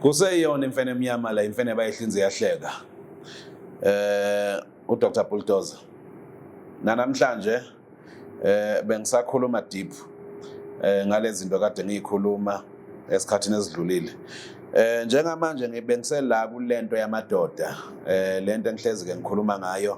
kuseyiyona imfene emnyama la imfene bayihlinze yahleka eh uDr Bulldozer nanamhlanje eh bengisakhuluma deep eh ngalezi zinto kade ngiyikhuluma esikhathini esidlulile eh njengamanje ngibengisela kulento yamadoda eh lento engihlezi ke ngikhuluma ngayo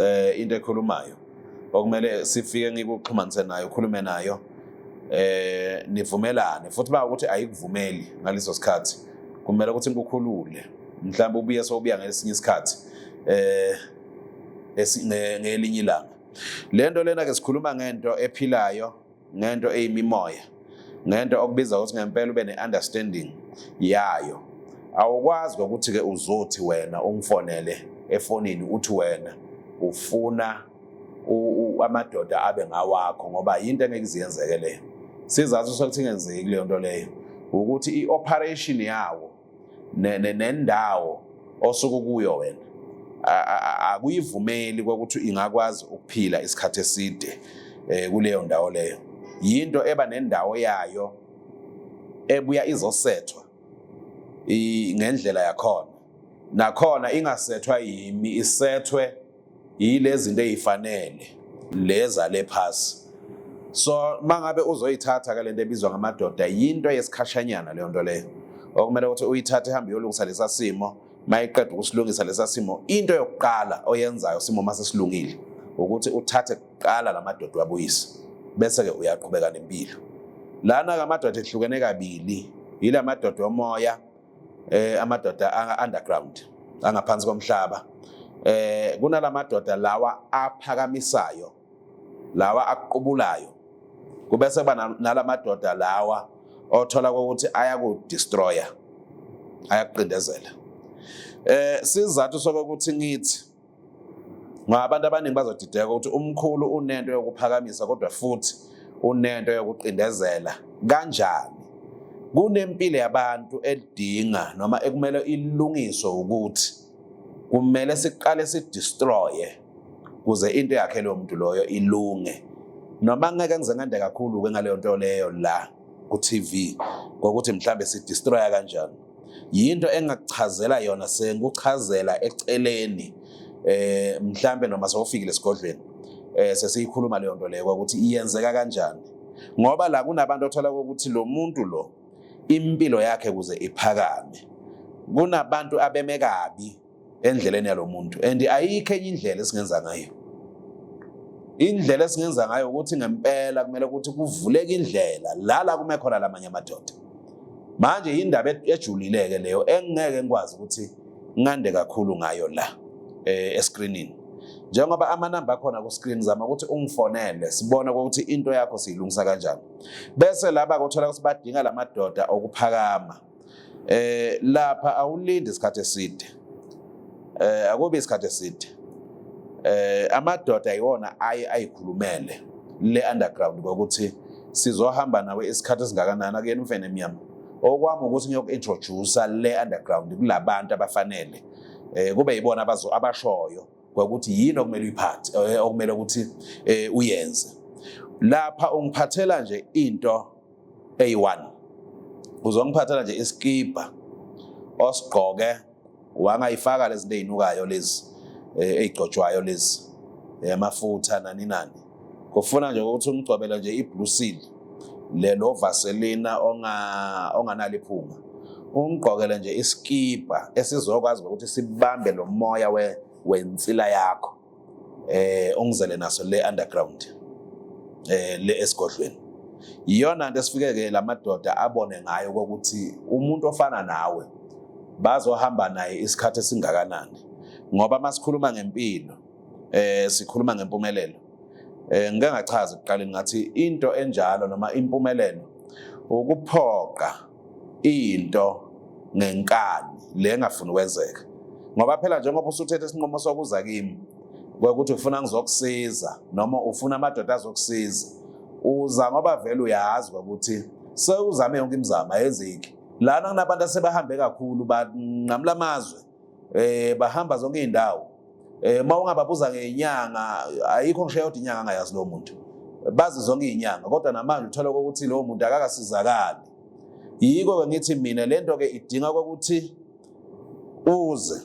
eh into ekhulumayo okumele sifike ngikuxhumanise nayo ukhulume nayo eh nivumelane futhi ba ukuthi ayikuvumeli ngaleso sikhathi kumele ukuthi ngikukhulule mhlawumbe ubuye sobuya ngesinye isikhathi eh ngelinye ilanga lento lena ke sikhuluma ngento ephilayo ngento eyimimoya ngento okubiza ukuthi ngempela ube ne-understanding yayo awukwazi ukuthi-ke uzothi wena ungifonele efonini uthi wena ufuna amadoda abe ngawakho ngoba yinto engeke iziyenzeke leyo sizathu sokuthi ingenzeki leyo nto leyo ukuthi i-operation yawo nendawo osuke kuyo wena akuyivumeli kokuthi ingakwazi ukuphila isikhathi eside eh, kuleyo ndawo leyo yinto eba nendawo yayo ebuya izosethwa ngendlela yakhona nakhona ingasethwa yimi isethwe yilezinto ezifanele leza lephasi so mangabe uzoyithatha ke lento ebizwa ngamadoda yinto yesikhashanyana leyo nto leyo okumele ukuthi uyithathe ihambe yolungisa lesa simo mayiqeda ukusilungisa lesa simo into yokuqala oyenzayo simo mase silungile ukuthi uthathe kuqala lamadoda wabuyise bese ke uyaqhubeka nempilo lana ke amadoda ehlukene kabili yilamadoda omoya eh amadoda underground angaphansi komhlaba eh kunalamadoda lawa aphakamisayo lawa aqubulayo kube sekuba nalamadoda lawa othola ukuthi ayakudestroya ayakuqindezela eh sizathu sokuthi ngithi ngoba abantu abaningi bazodideka ukuthi umkhulu unento yokuphakamisa kodwa futhi unento yokuqindezela kanjani kunempilo yabantu edinga noma ekumele ilungiswe ukuthi kumele siqale sidestroye kuze into yakhe loyo muntu loyo ilunge noma ngeke ngize ngande kakhulu-ke ngaleyo nto leyo la ku-TV ngokuthi mhlambe sidestroya kanjani yinto engakuchazela yona sengikuchazela eceleni eh mhlambe noma sewufikile esigodlweni eh sesiyikhuluma leyo nto leyo ukuthi iyenzeka kanjani ngoba la kunabantu othola ukuthi lo muntu lo impilo yakhe kuze iphakame kunabantu abeme kabi endleleni yalomuntu and ayikho enye indlela esingenza ngayo indlela esingenza ngayo ukuthi ngempela kumele ukuthi kuvuleke indlela lala kume khona lamanye amadoda manje indaba ejulileke leyo engeke ngikwazi ukuthi ngande kakhulu ngayo la eh, escreenini njengoba amanamba akhona ku-screen zama ukuthi ungifonele sibone ukuthi into yakho siyilungisa kanjani bese laba kuthola ukuthi badinga la madoda okuphakama eh lapha awulindi isikhathi eside eh akubi isikhathi eside eh amadoda iwona ayi ayikhulumele le underground ngokuthi sizohamba nawe isikhathi esingakanani akuyena umfene emnyama okwami ukuthi ngiyoku-introduce le underground kulabantu abafanele eh kube yibona abazo abashoyo ngokuthi yini okumele uyiphathe eh, okumele ukuthi eh, uyenze lapha ungiphathela nje into eyi-1 uzongiphathela nje isikibha osigqoke wangayifaka lezi nto ey'nukayo lezi eh, ey'gcotshwayo lezi amafutha eh, nani nani kufuna nje ukuthi umgcobele nje i-blue seal lelo vaselina onganalo iphunga ungigqokele nje isikibha esizokwazi ukuthi sibambe lo moya wensila yakho eh ongizele naso le underground eh le esigodlweni iyona nto esifike ke lamadoda abone ngayo ukuthi umuntu ofana nawe bazohamba naye isikhathi esingakanani ngoba masikhuluma ngempilo eh sikhuluma ngempumelelo eh ngeke ngachaza ekuqaleni ngathi into enjalo noma impumelelo ukuphoqa into ngenkani le engafuni ukwenzeka ngoba phela njengoba usuthethe isinqumo sokuza kimi kwekuthi ufuna ngizokusiza noma ufuna amadoda azokusiza uza ngoba vele uyazi ukuthi sewuzame yonke imizamo ayenzeki lana kunabantu asebahambe kakhulu banqamula amazwe eh bahamba zonke izindawo eh uma ungababuza ngenyanga ayikho ngisho yodwa inyanga angayazi lo muntu bazi zonke izinyanga kodwa namanje uthola ukuthi lowo muntu akakasizakali yiko ke ngithi mina lento ke idinga ukuthi uze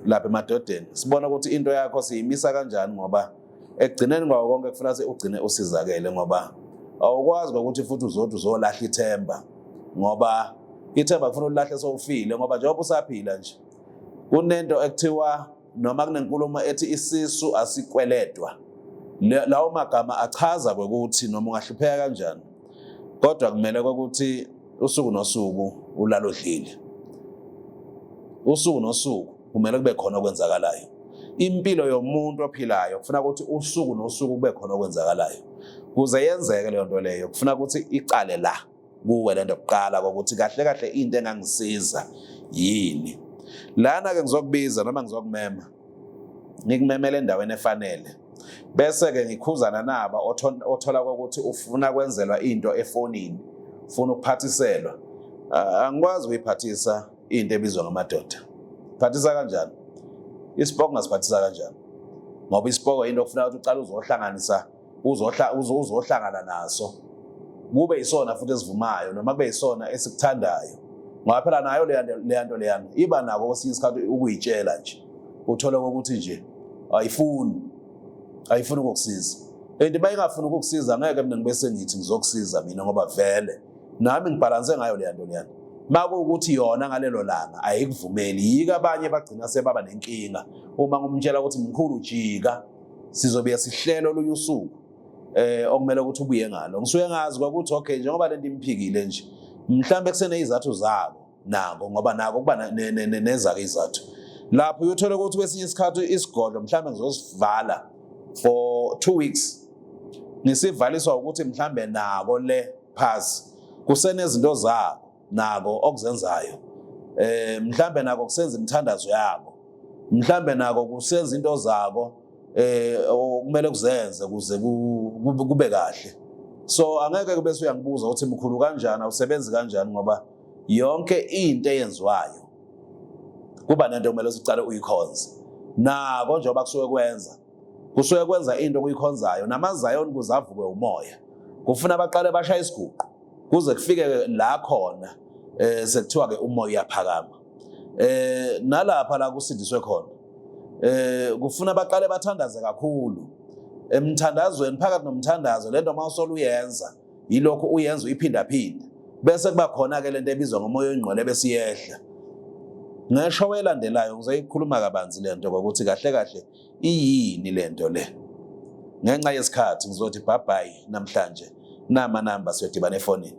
lapha emadodeni sibona ukuthi into yakho siyimisa kanjani ngoba ekugcineni kwawo konke kufuna ukuthi ugcine usizakele ngoba awukwazi ngokuthi futhi uzothi uzolahla ithemba ngoba ithemba kufuna ulilahle sowufile ngoba njengoba usaphila nje kunento ekuthiwa noma kunenkulumo ethi isisu asikweledwa lawo magama achaza ukuthi noma ungahlupheka kanjani kodwa kumele ukuthi usuku nosuku ulalodlile usuku nosuku kumele kube khona okwenzakalayo impilo yomuntu ophilayo kufuna ukuthi usuku nosuku kube khona okwenzakalayo kuze yenzeke leyo nto leyo kufuna ukuthi iqale la kuwe le nto kuqala kokuthi kahle kahle into engangisiza yini lana-ke ngizokubiza noma ngizokumema ngikumemele endaweni efanele bese-ke ngikhuzana naba othola kokuthi ufuna kwenzelwa into efonini ufuna ukuphathiselwa angikwazi ukuyiphathisa into ebizwa ngamadoda phathisa kanjani isipoko ngasiphathisa kanjani ngoba isipoko into okufuneka ukuthi uqale uzohlanganisa uzohlangana naso kube isona futhi esivumayo noma kube isona esikuthandayo ngoba phela nayo leya nto leyana iba nako kwesinye isikhathi ukuyitshela nje uthole kokuthi nje ayifuni ayifuni ukukusiza and uma ingafuni ukukusiza ngeke mina ngibe sengithi ngizokusiza mina ngoba vele nami ngibhalanse ngayo leya nto leyana makuwukuthi yona ngalelo langa ayikuvumeli yika abanye bagcina sebaba nenkinga uma ngumtshela ukuthi mkhulu jika sizobuye sihlelo olunye usuku eh okumele ukuthi ubuye ngalo ngisuke ngazi kwakuthi okay njengoba lento imphikile nje mhlambe kusenezathu zabo nako ngoba nako kuba nezake izathu lapho uyothola ukuthi kwesinye isikhathi isigodlo mhlawumbe ngizosivala for two weeks ngisivaliswa ukuthi mhlawumbe nako le phasi kusenezinto zabo nako okuzenzayo eh mhlawumbe nako kusenza imithandazo yabo mhlawumbe nako kusenza into zako eh okumele kuzenze kuze kube kahle so angeke kube uyangibuza ukuthi mkhulu kanjani awusebenzi kanjani ngoba yonke into eyenziwayo kuba nento kumele sicale uyikhonze nako njengoba kusuke kwenza kusuke kwenza into okuyikhonzayo namazayoni kuze avukwe umoya kufuna abaqale bashaya isiguqu kuze kufike la khona eh sekuthiwa ke umoya uyaphakama eh nalapha la kusindiswe khona eh kufuna baqale bathandaze kakhulu emthandazweni phakathi nomthandazo lento mawusola uyenza yilokho uyenza uyiphindaphinda bese kuba khona-ke le nto ebizwa ngomoya oyingqwele ebesiyehla ngesho welandelayo ngizoyikhuluma kabanzi le nto ngokuthi kahle kahle iyini le nto le ngenxa yesikhathi ngizothi bhabhayi namhlanje namanamba siyodibana efonini